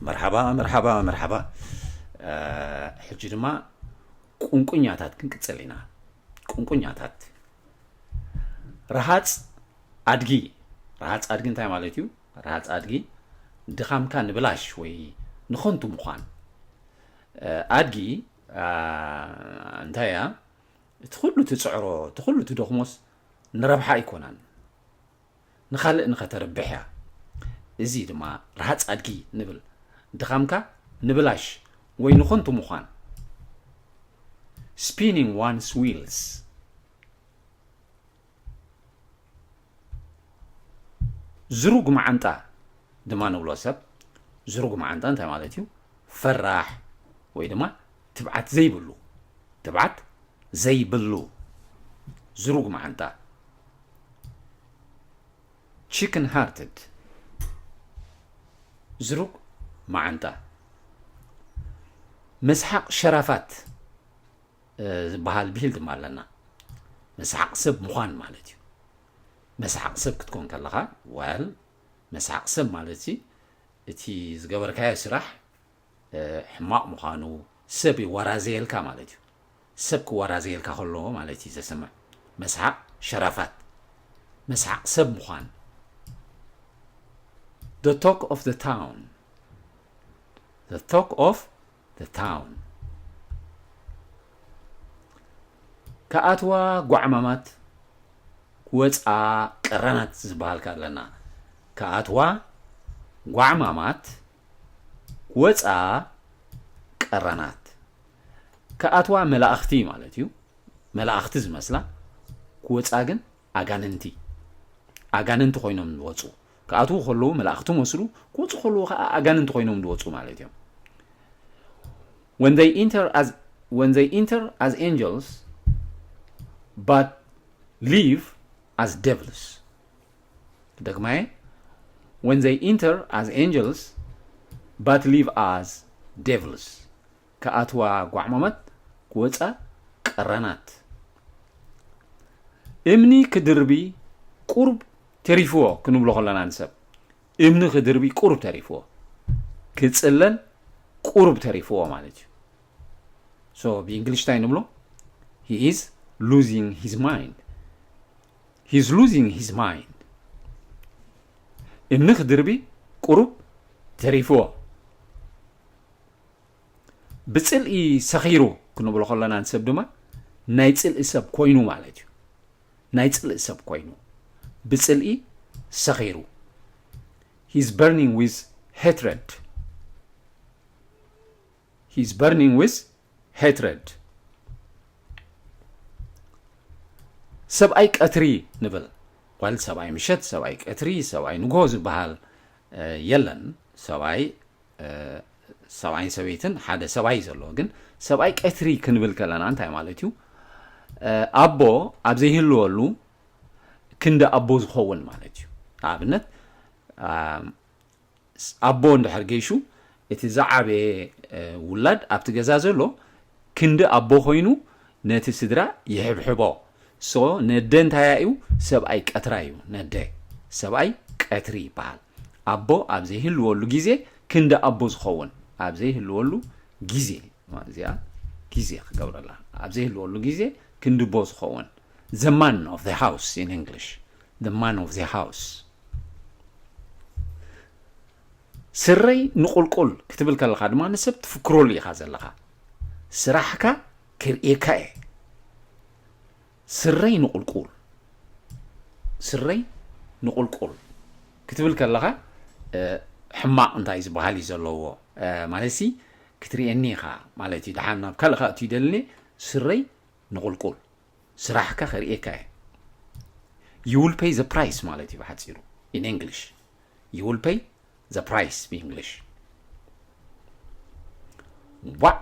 መርሓባ መርሓባ መርሓባ ሕጂ ድማ ቁንቁኛታት ክንቅፅል ኢና ቁንቁኛታት ረሃፅ ኣድጊ ረሃፅ ኣድጊ እንታይ ማለት እዩ ረሃፅ ኣድጊ ድኻምካ ንብላሽ ወይ ንኸንቱ ምዃን ኣድጊ እንታይ እያ እቲ ኩሉ ትፅዕሮ እቲ ኩሉ ትደኽሞስ ንረብሓ ኣይኮናን ንኻልእ ንኸተርብሕ እያ እዚ ድማ ርሃጽ ኣድጊ ንብል ድኻምካ ንብላሽ ወይ ንኾንቱ ምዃን spinning one's wheels ዝሩግ መዓንጣ ድማ ንብሎ ሰብ ዝሩግ መዓንጣ እንታይ ማለት እዩ ፈራሕ ወይ ድማ ትብዓት ዘይብሉ ትብዓት ዘይብሉ ዝሩግ መዓንጣ Chicken hearted ዝሩግ መዓንጣ መስሓቕ ሸራፋት ዝበሃል ብሂል ድማ ኣለና መስሓቕ ሰብ ምዃን ማለት እዩ መስሓቕ ሰብ ክትኮን ከለኻ ዋል መስሓቕ ሰብ ማለት እቲ ዝገበርካዮ ስራሕ ሕማቕ ምዃኑ ሰብ ይወራዘየልካ ማለት እዩ ሰብ ክወራዘየልካ ከሎ ማለት እዩ ዘስምዕ መስሓቕ ሸራፋት መስሓቕ ሰብ ምዃን the talk of the town the talk of the town ከኣትዋ ጓዕማማት ወፃ ቀረናት ዝበሃል ኣለና ከኣትዋ ጓዕማማት ወፃ ቀራናት ክኣትዋ መላእኽቲ ማለት እዩ መላእኽቲ ዝመስላ ክወፃ ግን ኣጋንንቲ ኣጋንንቲ ኮይኖም ዝወፁ ክኣትዉ ከለዉ መላእኽቲ መስሉ ክወፁ ከለዉ ከዓ ኣጋንንቲ ኮይኖም ዝወፁ ማለት እዮም when they enter as when they enter as angels but leave as devils ክደግማየ When they enter as angels but leave as devils ክኣትዋ ጓዕማማት ክወጻ ቀራናት እምኒ ክድርቢ ቁርብ ተሪፍዎ ክንብሎ ከለና ንሰብ እምኒ ክድርቢ ቁርብ ተሪፍዎ ክጽለል ቁርብ ተሪፍዎ ማለት እዩ ሶ ብእንግሊሽ እንታይ ንብሎ ሂ ኢዝ ሉዚንግ ሂዝ ማይንድ ሂዝ ሉዚንግ ሂዝ ማይንድ እምኒ ክድርቢ ቁሩብ ተሪፍዎ ብጽልኢ ሰኺሩ ክንብሎ ከለና ንሰብ ድማ ናይ ጽልኢ ሰብ ኮይኑ ማለት እዩ ናይ ጽልኢ ሰብ ኮይኑ ብጽልኢ ሰኺሩ ሂዝ በርኒንግ ዊዝ ሄትረድ He is burning with hatred ሰብኣይ ቀትሪ ንብል ወል ሰብኣይ ምሸት ሰብኣይ ቀትሪ ሰብኣይ ንግሆ ዝበሃል የለን ሰብኣይ ሰብኣይን ሰበይትን ሓደ ሰብኣይ እዩ ዘለዎ ግን ሰብኣይ ቀትሪ ክንብል ከለና እንታይ ማለት እዩ ኣቦ ኣብ ዘይህልወሉ ክንዲ ኣቦ ዝኸውን ማለት እዩ ንኣብነት ኣቦ እንድሕር ገይሹ እቲ ዝዓበየ ውላድ ኣብቲ ገዛ ዘሎ ክንዲ ኣቦ ኮይኑ ነቲ ስድራ ይሕብሕቦ so ነደ እንታያ እዩ ሰብኣይ ቀትራ እዩ ነደ ሰብኣይ ቀትሪ ይበሃል ኣቦ ኣብ ዘይህልወሉ ግዜ ክንዲ ኣቦ ዝኸውን ኣብ ዘይህልወሉ ግዜ እዚኣ ግዜ ክገብረላ ኣብ ዘይህልወሉ ግዜ ክንዲ ቦ ዝኸውን the man of the house in English the man of the house ስረይ ንቁልቁል ክትብል ከለኻ ድማ ንሰብ ትፍክረሉ ኢኻ ዘለኻ ስራሕካ ክርእየካ እየ ስረይ ንቁልቁል ስረይ ንቁልቁል ክትብል ከለኻ ሕማቕ እንታይ ዝበሃል እዩ ዘለዎ ማለት ሲ ክትርእየኒ ኢኻ ማለት እዩ ድሓን ናብ ካልእ ካእ ትይደልኒ ስረይ ንቁልቁል ስራሕካ ከርእየካ እየ you will pay the price ማለት እዩ ብሓፂሩ in English you will pay the price ብእንግሊሽ ዋእ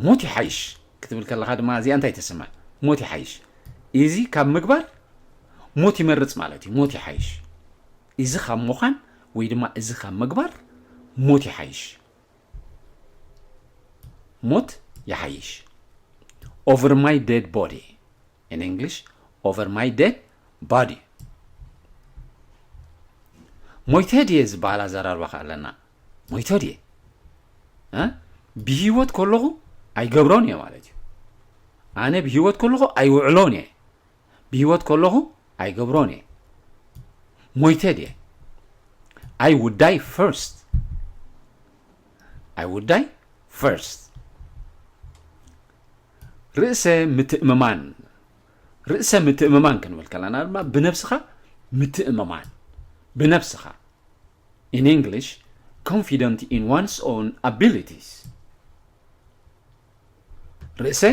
ሞት ይሓይሽ ክትብል ከለኻ ድማ እዚኣ እንታይ ተስምዕ ሞት ይሓይሽ እዚ ካብ ምግባር ሞት ይመርፅ ማለት እዩ ሞት ይሓይሽ እዚ ካብ ምዃን ወይ ድማ እዚ ካብ ምግባር ሞት ይሓይሽ ሞት ይሓይሽ ኦቨር ማይ ዴድ ቦዲ ኢን እንግሊሽ ኦቨር ማይ ዴድ ባዲ ሞይተ ድየ ዝበሃል ኣዘራርባ ከ ኣለና ሞይተ ድየ ብሂወት ከለኹ ኣይገብሮን እየ ማለት እዩ ኣነ ብሂወት ከለኹ ኣይውዕሎን እየ ብሂወት ከለኹ ኣይገብሮን እየ ሞይተ ድየ ኣይ ውድ ዳይ ፈርስት ኣይ ውድ ዳይ ፈርስት ርእሰ ምትእምማን ርእሰ ምትእምማን ክንብል ከለና ድማ ብነብስኻ ምትእምማን ብነብስኻ ኢን እንግሊሽ ኮንፊደንት ኢን ዋንስ ኦን ኣቢሊቲስ ርእሰ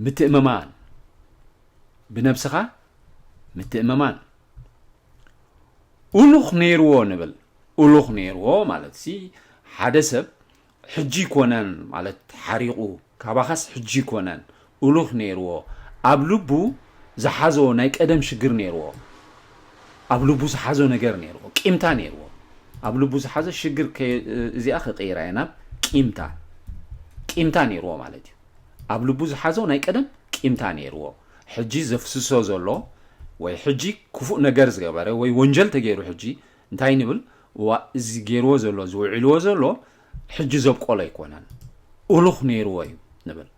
ምትእምማን ብነብስኻ ምትእምማን ኡሉኽ ነይርዎ ንብል ኡሉኽ ነይርዎ ማለት ሲ ሓደ ሰብ ሕጂ ኮነን ማለት ሓሪቑ ካባኻስ ሕጂ ኮነን ኡሉኽ ነይርዎ ኣብ ልቡ ዝሓዞ ናይ ቀደም ሽግር ነይርዎ ኣብ ልቡ ዝሓዞ ነገር ነይርዎ ቂምታ ነይርዎ ኣብ ልቡ ዝሓዘ ሽግር እዚኣ ክቅይራ እየ ናብ ቂምታ ቂምታ ነይርዎ ማለት እዩ ኣብ ልቡ ዝሓዞ ናይ ቀደም ቂምታ ነይርዎ ሕጂ ዘፍስሶ ዘሎ ወይ ሕጂ ክፉእ ነገር ዝገበረ ወይ ወንጀል ተገይሩ ሕጂ እንታይ ንብል እዋ እዚ ገይርዎ ዘሎ ዝውዒልዎ ዘሎ ሕጂ ዘብቆሎ ኣይኮነን እሉኽ ነይርዎ እዩ ንብል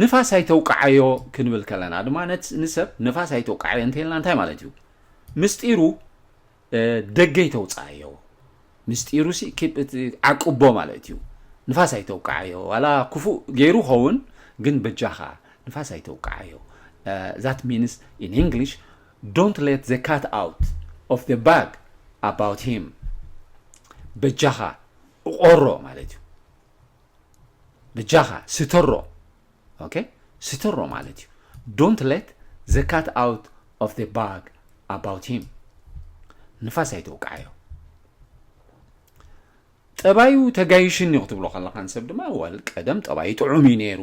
ንፋስ ኣይተውቃዓዮ ክንብል ከለና ድማ ንሰብ ንፋስ ኣይተውቃዓዮ እንተልና እንታይ ማለት እዩ ምስጢሩ ደገ ይተውፃኣዮ ምስጢሩ ሲ ዓቅቦ ማለት እዩ ንፋስ ኣይተውቃዓዮ ዋላ ክፉእ ገይሩ ኸውን ግን በጃኻ ንፋስ ኣይተውቃዓዮ ዛት ሚንስ ኢን እንግሊሽ ዶንት ሌት ዘ ካት ኣውት ኦፍ ዘ ባግ ኣባውት ሂም በጃኻ ቆሮ ማለት እዩ በጃኻ ስተሮ ኦኬ ስተሮ ማለት እዩ ዶንት ለት ዘ ካት ኣውት ኦፍ ዘ ባግ ኣባውት ሂም ንፋስ ኣይተውቃዓዮ ጠባዩ ተጋይሽኒ ክትብሎ ከለኻን ሰብ ድማ ወል ቀደም ጠባዩ ጥዑም እዩ ነይሩ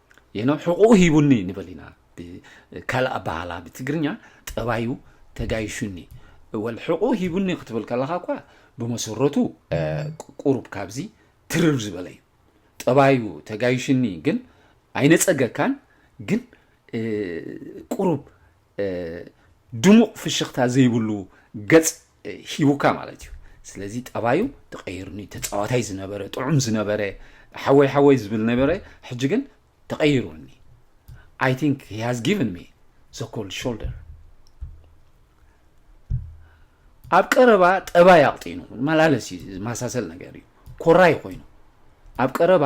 የኖም ሕቁኡ ሂቡኒ ንበል ኢና ብካልእ ኣባሃላ ብትግርኛ ጠባዩ ተጋይሹኒ ወል ሕቁኡ ሂቡኒ ክትብል ከለካ እኳ ብመሰረቱ ቁሩብ ካብዚ ትርር ዝበለ እዩ ጠባዩ ተጋይሹኒ ግን ኣይነጸገካን ግን ቁሩብ ድሙቕ ፍሽኽታ ዘይብሉ ገጽ ሂቡካ ማለት እዩ ስለዚ ጠባዩ ተቐይሩኒ ተፃዋታይ ዝነበረ ጥዑም ዝነበረ ሓወይ ሓወይ ዝብል ነበረ ሕጂ ግን ተቐይሩኒ I think he has given me the cold shoulder. ኣብ ቀረባ ጠባይ ኣቕጢኑ መላለስ እዩ ዝመሳሰል ነገር እዩ ኮራይ ኮይኑ ኣብ ቀረባ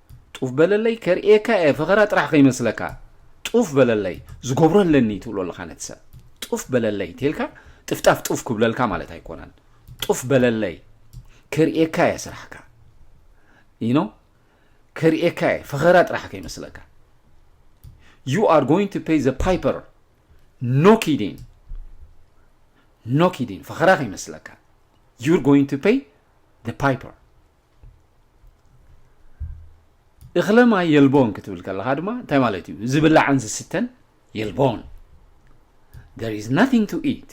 ጡፍ በለለይ ከርእየካ እየ ፈኸራ ጥራሕ ከይመስለካ ጡፍ በለለይ ዝገብሮ ኣለኒ ትብሎ ኣለኻ ነቲ ሰብ ጡፍ በለለይ እንተልካ ጥፍጣፍ ጡፍ ክብለልካ ማለት ኣይኮነን ጡፍ በለለይ ከርእየካ እየ ስራሕካ ይኖ ከርእየካ እየ ፈኸራ ጥራሕ ከይመስለካ ዩ ኣር ጎይንግ ቱ ፔይ ዘ ፓይፐር ኖ ኪዲን ኖ ኪዲን ፈኸራ ከይመስለካ ዩር ጎይንግ ቱ ፔይ ዘ ፓይፐር እኽለ ማይ የልቦን ክትብል ከለኻ ድማ እንታይ ማለት እዩ ዝብላዕን ዝስተን የልቦን there is nothing to eat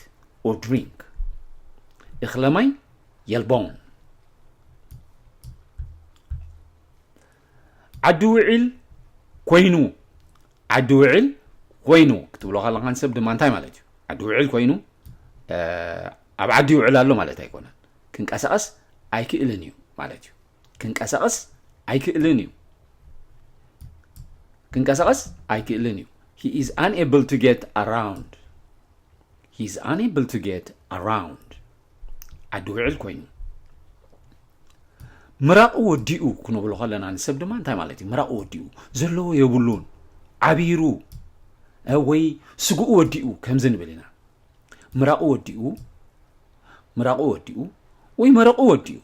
or drink እኽለ ማይ የልቦን ዓዲ ውዒል ኮይኑ ዓዲ ውዒል ኮይኑ ክትብሎ ከለኻ ንሰብ ድማ እንታይ ማለት እዩ ዓዲ ውዒል ኮይኑ ኣብ ዓዲ ይውዕል ኣሎ ማለት ኣይኮነን ክንቀሳቐስ ኣይክእልን እዩ ማለት እዩ ክንቀሳቐስ ኣይክእልን እዩ ክንቀሳቐስ ኣይክእልን እዩ he is unable to get around he is unable to get around ዓዲ ውዕል ኮይኑ ምራቑ ወዲኡ ክንብሎ ከለና ንሰብ ድማ እንታይ ማለት እዩ ምራቑ ወዲኡ ዘለዎ የብሉን ዓቢሩ ወይ ስግኡ ወዲኡ ከምዚ ንብል ኢና ምራቑ ወዲኡ ምራቑ ወዲኡ ወይ መረቑ ወዲኡ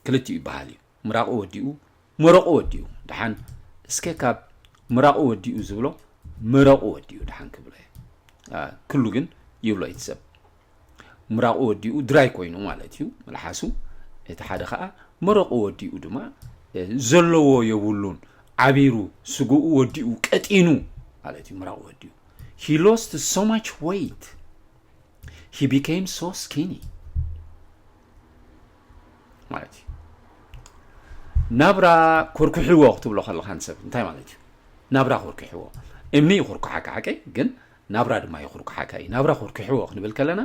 ክልቲኡ ይበሃል እዩ ምራቑ ወዲኡ መረቑ ወዲኡ ድሓን እስከ ካብ ምራቑ ወዲኡ ዝብሎ መረቑ ወዲኡ ድሓን ክብሎ ክሉ ግን ይብሎ እዩ ሰብ ምራቑ ወዲኡ ድራይ ኮይኑ ማለት እዩ መልሓሱ እቲ ሓደ ከዓ መረቑ ወዲኡ ድማ ዘለዎ የብሉን ዓቢሩ ስግኡ ወዲኡ ቀጢኑ ማለት እዩ ምራቑ ወዲኡ ሂ ሎስት ሶ ማች ወይት ሂ ቢኬም ሶ ስኪኒ ማለት እዩ ናብራ ኮርኩሕዎ ክትብሎ ከለካ ንሰብ እንታይ ማለት እዩ ናብራ ኮርኩሕዎ እምኒ ይኹርኩሓካ ሓቂ ግን ናብራ ድማ ይኹርኩሓካ እዩ ናብራ ኮርኩሕዎ ክንብል ከለና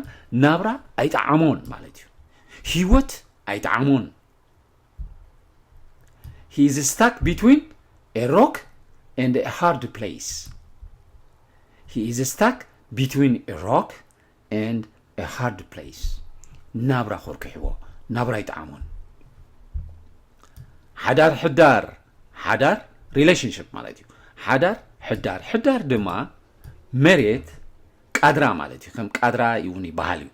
ናብራ ኣይጠዓሞን ማለት እዩ ህይወት ኣይጠዓሞን ሂ ኢዝ ስታክ ቢትዊን ኤ ሮክ ኤንድ ኤ ሃርድ ፕሌይስ ሂ ኢዝ ስታክ ቢትዊን ኤ ሮክ ኤንድ ኤ ሃርድ ፕሌይስ ናብራ ኮርኪሕዎ ናብራ ይጠዓሞን ሓዳር ሕዳር ሓዳር ሪሌሽንሽፕ ማለት እዩ ሓዳር ሕዳር ሕዳር ድማ መሬት ቃድራ ማለት እዩ ከም ቃድራ እውን ይበሃል እዩ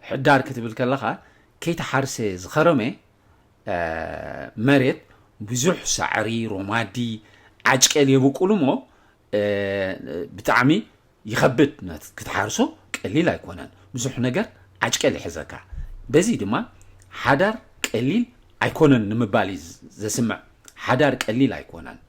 ሕዳር ክትብል ከለኻ ከይተሓርሰ ዝኸረመ መሬት ብዙሕ ሳዕሪ፣ ሮማዲ፣ ዓጭቄል የብቁሉ እሞ ብጣዕሚ ይኸብድ ናት ክትሓርሶ ቀሊል ኣይኮነን ብዙሕ ነገር ዓጭቄል ይሕዘካ በዚ ድማ ሓዳር ቀሊል ኣይኮነን ንምባል እዩ ዘስምዕ ሓዳር ቀሊል ኣይኮነን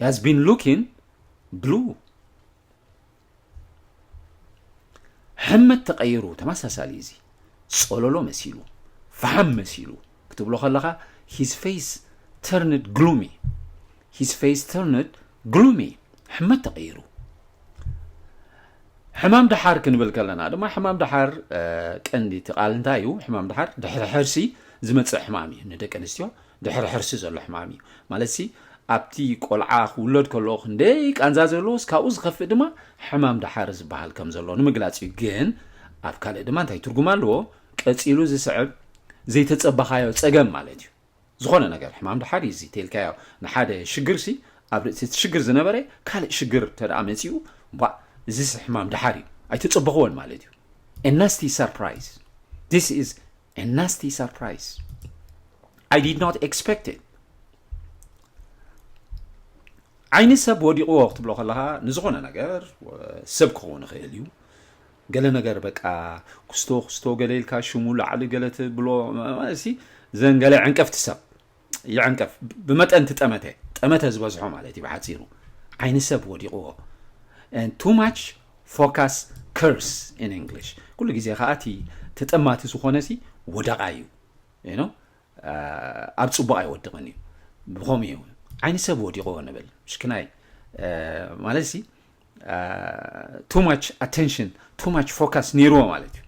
He has been looking blue. ሕምት ተቐይሩ ተመሳሳሊ እዚ ጸሎሎ መሲሉ ፈሓም መሲሉ ክትብሎ ከለኻ ሂዝ ፌስ ተርንድ ግሉሚ ሂዝ ፌስ ተርንድ ግሉሚ ሕመት ተቐይሩ ሕማም ድሓር ክንብል ከለና ድማ ሕማም ድሓር ቀንዲ እቲ ቃል እንታይ እዩ ሕማም ድሓር ድሕሪ ሕርሲ ዝመፅእ ሕማም እዩ ንደቂ ኣንስትዮ ድሕሪ ሕርሲ ዘሎ ሕማም እዩ። ማለትሲ ኣብቲ ቆልዓ ክውለድ ከለኦ ክንደይ ቃንዛ ዘለዎስ ካብኡ ዝኸፍእ ድማ ሕማም ደሓር ዝበሃል ከም ዘሎ ንምግላጽ እዩ። ግን ኣብ ካልእ ድማ እንታይ ትርጉም ኣለዎ? ቀጺሉ ዝስዕብ ዘይተጸበኻዮ ጸገም ማለት እዩ። ዝኾነ ነገር ሕማም ደሓር እዩ እዚ ተልካዮ ንሓደ ሽግርሲ ኣብ ርእሲ እቲ ሽግር ዝነበረ ካልእ ሽግር ተደኣ መጺኡ ባእ እዚስ ሕማም ደሓር እዩ ኣይተጸበኽዎን ማለት እዩ። A nasty surprise. This is a nasty surprise. I did not expect it. ዓይኒ ሰብ ወዲቕዎ ክትብሎ ከለኻ ንዝኾነ ነገር ሰብ ክኸውን ይኽእል እዩ ገለ ነገር በቃ ክስቶ ክስቶ ገለ ኢልካ ሽሙ ላዕሊ ገለ ትብሎ እሲ ዘን ገለ ዕንቀፍቲ ሰብ ይዕንቀፍ ብመጠን እቲ ጠመተ ጠመተ ዝበዝሖ ማለት እዩ ብሓፂሩ ዓይኒ ሰብ ወዲቕዎ ቱ ማች ፎካስ ከርስ ኢን እንግሊሽ ኩሉ ግዜ ከዓ እቲ ተጠማቲ ዝኾነ ሲ ወደቓ እዩ ዩ ኣብ ፅቡቕ ኣይወድቕን እዩ ብኸምኡ እዩ ዓይኒ ሰብ ወዲቕዎ ንብል ሽክናይ ማለት ሲ ቱ ማች ኣቴንሽን ቱ ማች ፎካስ ነይርዎ ማለት እዩ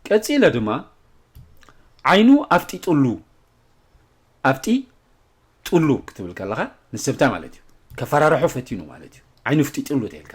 ቀፂለ ድማ ዓይኑ ኣፍጢጥሉ ኣፍጢ ጥሉ ክትብል ከለካ ንስብታ ማለት እዩ ከፈራርሖ ፈቲኑ ማለት እዩ ዓይኑ ፍጢጥሉ ተልካ